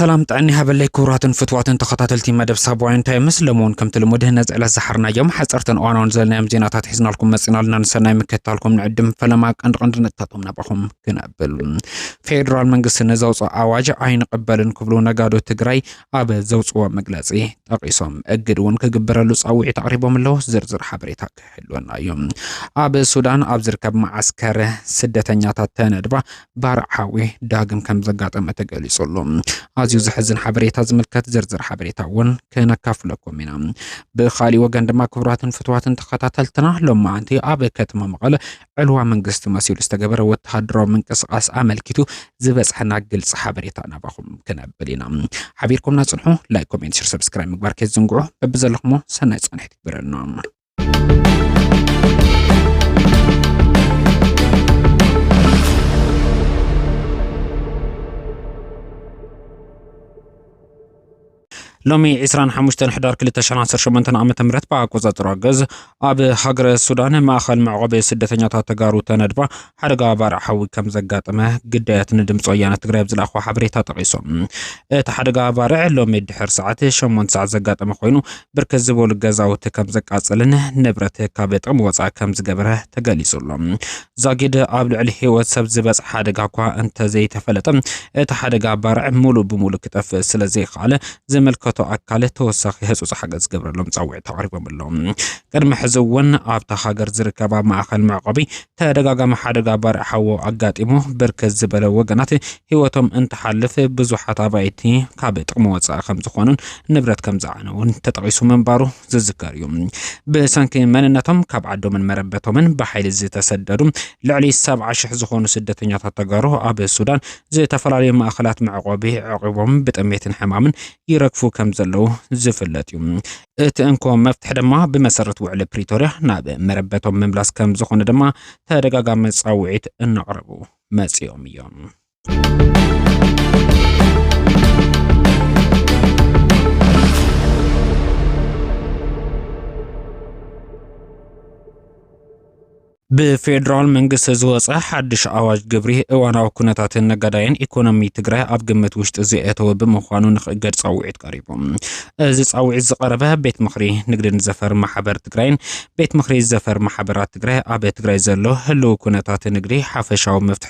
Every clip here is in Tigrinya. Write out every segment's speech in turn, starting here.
ሰላም ጥዕኒ ሃበለይ ክቡራትን ፍትዋትን ተኸታተልቲ መደብ ሳባውያን ታይምስ ለመውን ከምቲ ልሙድ ነዚ ዕለት ዝሓርናዮም ሓፀርትን እዋናውን ዘለናዮም ዜናታት ሒዝናልኩም መፂና ኣለና ንሰናይ ምክትታልኩም ንዕድም ፈለማ ቀንዲ ቀንዲ ነጥብታቶም ናባኹም ክነብል ፌዴራል መንግስቲ ንዘውፅኦ ኣዋጅ ኣይንቕበልን ክብሉ ነጋዶ ትግራይ ኣብ ዘውፅዎ መግለፂ ጠቒሶም እግድ እውን ክግበረሉ ፃውዒት ኣቕሪቦም ኣለዉ። ዝርዝር ሓበሬታ ክህልወና እዩ። ኣብ ሱዳን ኣብ ዝርከብ መዓስከር ስደተኛታት ተነድባ ባርዕ ሓዊ ዳግም ከም ዘጋጠመ ተገሊጹ ኣሎ። ኣዝዩ ዘሕዝን ሓበሬታ ዝምልከት ዝርዝር ሓበሬታ እውን ክነካፍለኩም ኢና። ብካሊእ ወገን ድማ ክቡራትን ፍትዋትን ተኸታተልትና ሎማዓንቲ ኣብ ከተማ መቐለ ዕልዋ መንግስቲ መሲሉ ዝተገበረ ወተሃደራዊ ምንቅስቓስ ኣመልኪቱ ዝበጽሐና ግልጺ ሓበሬታ ናባኹም ክነብል ኢና። ሓቢርኩምና ጽንሑ። ላይክ፣ ኮሜንት፣ ሽር፣ ሰብስክራይብ ምግባር ከይትዝንግዑ። በብዘለኹሞ ሰናይ ጻንሒት ይግበረልና። ሎሚ ዕስራን ሓሙሽተን ሕዳር ክልተ ሽሕን ዓሰርተ ሸሞንተን ዓመተ ምህረት ብኣቆጻጽራ ግእዝ ኣብ ሃገረ ሱዳን ማእኸል መዕቆቢ ስደተኛታት ተጋሩ ተነድባ ሓደጋ ባርዕ ሓዊ ከም ዘጋጠመ ግዳያት ንድምፂ ወያነ ትግራይ ኣብ ዝለኣኽዎ ሓበሬታ ጠቒሶም። እቲ ሓደጋ ባርዕ ሎሚ ድሕር ሰዓት ሸሞንተ ሰዓት ዘጋጠመ ኮይኑ ብርክት ዝበሉ ገዛውቲ ከም ዘቃጸልን ንብረት ካብ ጥቕሚ ወጻኢ ከም ዝገበረ ተገሊጹ ኣሎ። ዛጊድ ኣብ ልዕሊ ህይወት ሰብ ዝበጽሐ ሓደጋ እኳ እንተዘይተፈለጠ፣ እቲ ሓደጋ ባርዕ ሙሉእ ብሙሉእ ክጠፍእ ስለዘይኸኣለ ዝምልከቶ ኣካል ተወሳኺ ህጹጽ ሓገዝ ዝገብረሎም ጻውዒት ኣቕሪቦም ኣለው። ቅድሚ ሕዚ እውን ኣብታ ሃገር ዝርከባ ማእኸል መዕቆቢ ተደጋጋሚ ሓደጋ ባርዕ ሓዊ ኣጋጢሙ ብርክት ዝበለ ወገናት ህይወቶም እንትሓልፍ ብዙሓት ኣባይቲ ካብ ጥቕሚ ወጻኢ ከምዝኾኑን ንብረት ከምዝዓነዉን ተጠቒሱ ምንባሩ ዝዝከር እዩ። ብሰንኪ መንነቶም ካብ ዓዶምን መረበቶምን ብሓይሊ ዝተሰደዱ ልዕሊ ሰብዓ ሽሕ ዝኾኑ ስደተኛታት ተጋሩ ኣብ ሱዳን ዝተፈላለዩ ማእኸላት መዕቆቢ ዕቂቦም ብጥሜትን ሕማምን ይረግፉ ከም ዘለዉ ዝፍለጥ እዩ። እቲ እንኮ መፍትሒ ድማ ብመሰረት ውዕሊ ፕሪቶርያ ናብ መረበቶም ምምላስ ከም ዝኾነ ድማ ተደጋጋሚ ፃውዒት እናቕረቡ መፂኦም እዮም። ብፌዴራል መንግስቲ ዝወፀ ሓድሽ ኣዋጅ ግብሪ እዋናዊ ኩነታትን ነጋዳይን ኢኮኖሚ ትግራይ ኣብ ግምት ውሽጢ ዘየተወ ብምዃኑ ንክእገድ ፃውዒት ቀሪቡ። እዚ ፃውዒት ዝቀረበ ቤት ምክሪ ንግድን ዘፈር ማሕበር ትግራይን ቤት ምክሪ ዘፈር ማሕበራት ትግራይ ኣብ ትግራይ ዘሎ ህልው ኩነታት ንግዲ ሓፈሻዊ መፍትሒ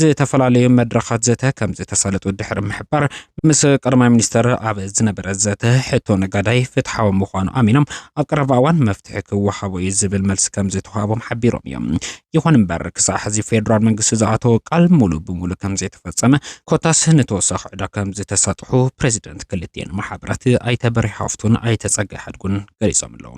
ዝተፈላለዩ መድረኻት ዘተ ከምዝተሳለጡ ድሕሪ ምሕባር፣ ምስ ቀዳማይ ሚኒስተር ኣብ ዝነበረ ዘተ ሕቶ ነጋዳይ ፍትሓዊ ምዃኑ ኣሚኖም ኣብ ቀረባ እዋን መፍትሒ ክወሃቦ እዩ ዝብል መልሲ ከምዝተዋህቦም ሓቢሮም እዮም። ይኹን እምበር ክሳዕ ሕዚ ፌደራል መንግስቲ ዝኣተዎ ቃል ሙሉእ ብሙሉእ ከምዘይተፈጸመ ኮታስ ንተወሳኺ ዕዳ ከምዝተሳጥሑ ፕረዚደንት ክልቲኤን ማሕበራት ኣይተ በርሄ ሃፍቱን ኣይተ ጸጋይ ሓድጉን ገሊጾም ኣለው።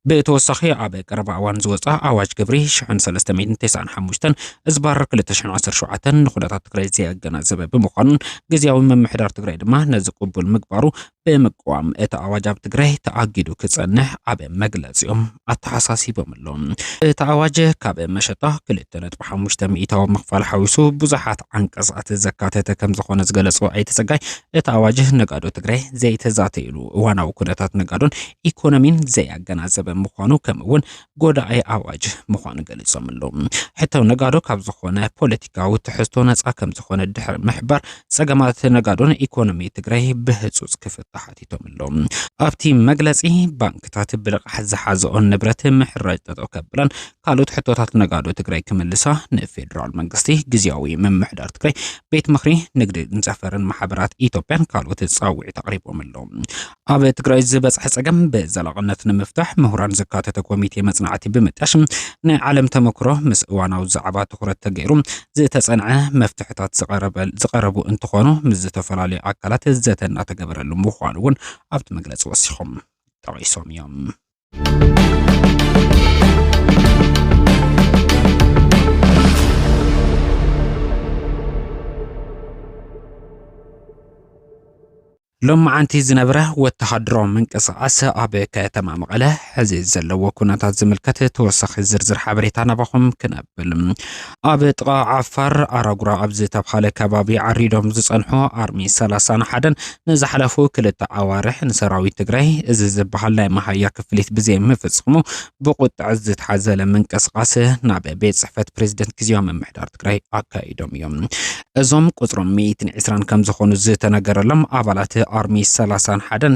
ብተወሳኺ ኣብ ቀረባ እዋን ዝወፅኣ ኣዋጅ ግብሪ ሽሕን ሰለስተ ሚእትን ተስዓን ሓሙሽተን እዝባር ክልተ ሽሕን ዓሰርተ ሸውዓተን ንኩነታት ትግራይ ዘየገናዘበ ብምዃኑን ግዝያዊ ምምሕዳር ትግራይ ድማ ነዚ ቅቡል ምግባሩ ብምቅዋም እቲ ኣዋጅ ኣብ ትግራይ ተኣጊዱ ክጸንሕ ኣብ መግለጺኦም ኣተሓሳሲቦም ኣሎም። እቲ ኣዋጅ ካብ መሸጣ 2.5 ሚእታዊ ምኽፋል ሓዊሱ ብዙሓት ዓንቀጻት ዘካተተ ከም ዝኾነ ዝገለጹ ኣይተ ጸጋይ እቲ ኣዋጅ ነጋዶ ትግራይ ዘይተዛተይሉ እዋናዊ ኩነታት ነጋዶን ኢኮኖሚን ዘያገናዘበ ምዃኑ ከምኡ እውን ጎዳኢ ኣዋጅ ምዃኑ ገሊፆም ኣለዉ። ሕተው ነጋዶ ካብ ዝኾነ ፖለቲካዊ ትሕዝቶ ነፃ ከም ዝኾነ ድሕሪ ምሕባር ፀገማት ነጋዶን ኢኮኖሚ ትግራይ ብህፁፅ ክፍታ ሓቲቶም ኣለዉ። ኣብቲ መግለፂ ባንክታት ብልቓሕ ዝሓዘኦን ንብረት ምሕራጅ ጠጠው ከብላን ካልኦት ሕቶታት ነጋዶ ትግራይ ክምልሳ ንፌዴራል መንግስቲ፣ ግዝያዊ ምምሕዳር ትግራይ፣ ቤት ምኽሪ ንግድን ዘፈርን ማሕበራት ኢትዮጵያን ካልኦት ፃውዒት ኣቕሪቦም ኣለዉ። ኣብ ትግራይ ዝበፅሐ ፀገም ብዘላቕነት ንምፍታሕ ምሁራን ዘካተተ ኮሚቴ መፅናዕቲ ብምጣሽ ናይ ዓለም ተመክሮ ምስ እዋናዊ ዛዕባ ትኹረት ተገይሩ ዝተፀንዐ መፍትሕታት ዝቐረቡ እንትኾኑ ምስ ዝተፈላለዩ ኣካላት ዘተ እናተገበረሉ ምዃኑ እውን ኣብቲ መግለፂ ወሲኾም ጠቒሶም እዮም። ሎማዓንቲ ዝነበረ ወተሃደሮ ምንቅስቓስ ኣብ ከተማ መቐለ ሕዚ ዘለዎ ኩነታት ዝምልከት ተወሳኺ ዝርዝር ሓበሬታ ናባኹም ክነብል ኣብ ጥቓ ዓፋር ኣራጉራ ኣብ ዝተብሃለ ከባቢ ዓሪዶም ዝጸንሑ ኣርሚ ሰላሳን ሓደን ንዝሓለፉ ክልተ ኣዋርሕ ንሰራዊት ትግራይ እዚ ዝበሃል ናይ መሃያ ክፍሊት ብዘይምፍጽሙ ብቁጥዐ ዝተሓዘለ ምንቅስቓስ ናብ ቤት ጽሕፈት ፕሬዚደንት ግዜያዊ ምምሕዳር ትግራይ ኣካይዶም እዮም። እዞም ቁጽሮም ሚእትን ዒስራን ከም ዝኾኑ ዝተነገረሎም ኣባላት ኣርሚ ሰላሳን ሓደን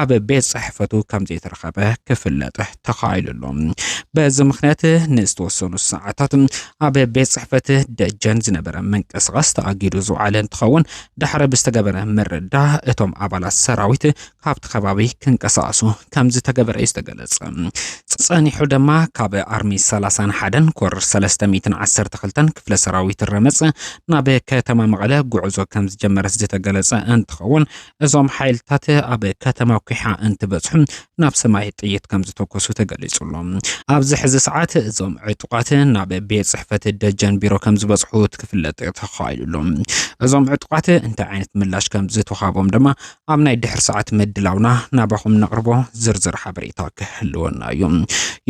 ኣብ ቤት ጽሕፈቱ ከም ዘይተረኸበ ክፍለጥ ተኻኢሉ ኣሎ። በዚ ምክንያት ንዝተወሰኑ ሰዓታት ኣብ ቤት ጽሕፈት ደጀን ዝነበረ ምንቅስቓስ ተኣጊዱ ዝውዓለ እንትኸውን ድሕሪ ብዝተገበረ ምርዳ እቶም ኣባላት ሰራዊት ካብቲ ከባቢ ክንቀሳቐሱ ከም ዝተገበረ እዩ ዝተገለጸ። ጸኒሑ ድማ ካብ ኣርሚ 31ን ኮር 312ን ክፍለ ሰራዊት ረመጽ ናብ ከተማ መቐለ ጉዕዞ ከም ዝጀመረ ዝተገለጸ እንትኸውን እዞም ሓይልታት ኣብ ከተማ ኩሓ እንትበፅሑ ናብ ሰማይ ጥይት ከም ዝተኮሱ ተገሊጹ ኣሎ። ኣብዚ ሕዚ ሰዓት እዞም ዕጡቓት ናብ ቤት ጽሕፈት ደጀን ቢሮ ከም ዝበፅሑ ክፍለጥ ተኻኢሉ ኣሎ። እዞም ዕጡቓት እንታይ ዓይነት ምላሽ ከም ዝተውሃቦም ድማ ኣብ ናይ ድሕሪ ሰዓት ምድላውና ናባኹም ነቕርቦ ዝርዝር ሓበሬታ ክህልወና እዩ።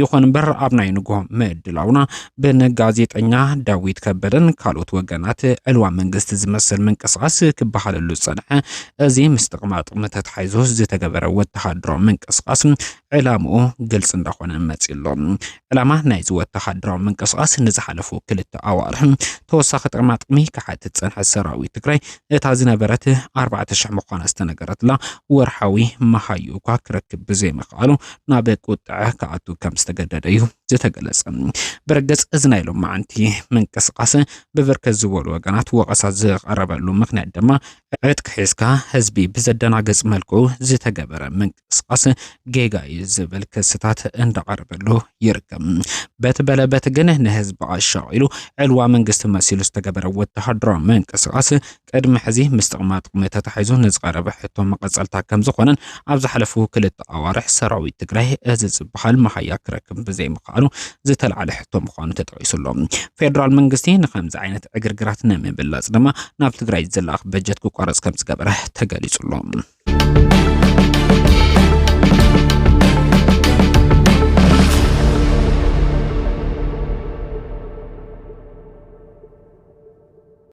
ይኹን እምበር ኣብ ናይ ንግሆ ምድላውና ብን ጋዜጠኛ ዳዊት ከበደን ካልኦት ወገናት ዕልዋ መንግስቲ ዝመስል ምንቅስቓስ ክበሃለሉ ዝጸንሐ እዚ ምስ ጥቕማ ጥቕሚ ተተሓይዞ ዝተገበረ ወተሃደራዊ ምንቅስቓስ ዕላምኡ ግልፂ እንዳኾነ መፂኡ ኣሎ። ዕላማ ናይዚ ወተሃደራዊ ምንቅስቓስ ንዝሓለፉ ክልተ ኣዋርሕ ተወሳኺ ጥቕማ ጥቕሚ ክሓትት ፀንሐ ሰራዊት ትግራይ እታ ዝነበረት ኣርባዕተ ሽሕ ምዃና ዝተነገረትላ ወርሓዊ መሃዩ እኳ ክረክብ ብዘይምኽኣሉ ናብ ቁጥዐ ክኣቱ ከም ዝተገደደ እዩ ዝተገለጸ ብርግጽ እዚ ናይ ሎማዓንቲ ምንቅስቃስ ብብርክት ዝበሉ ወገናት ወቀሳ ዝቀረበሉ ምክንያት ድማ ዕጥቂ ሒዝካ ህዝቢ ብዘደናገጽ መልኩ ዝተገበረ ምንቅስቃስ ጌጋ እዩ ዝብል ክስታት እንዳቀረበሉ ይርከብ። በቲ በለ በቲ ግን ንህዝቢ ኣሻቂሉ ዕልዋ መንግስቲ መሲሉ ዝተገበረ ወተሃደራዊ ምንቅስቃስ ቅድሚ ሕዚ ምስ ጥቕማጥቕሚ ተታሒዙ ንዝቐረበ ሕቶ መቐፀልታ ከምዝኾነን ኣብ ዝሓለፉ ክልተ ኣዋርሕ ሰራዊት ትግራይ እዚ ዝበሃል መሃያ ክረክብ ብዘይምኽኣሉ ዝተልዓለ ሕቶ ምዃኑ ተጠቒሱ ኣሎ። ፌደራል መንግስቲ ንኸምዚ ዓይነት ዕግርግራት ንምብላፅ ድማ ናብ ትግራይ ዝለኣኽ በጀት ክቋረፅ ከምዝገበረ ተገሊፁ ኣሎ።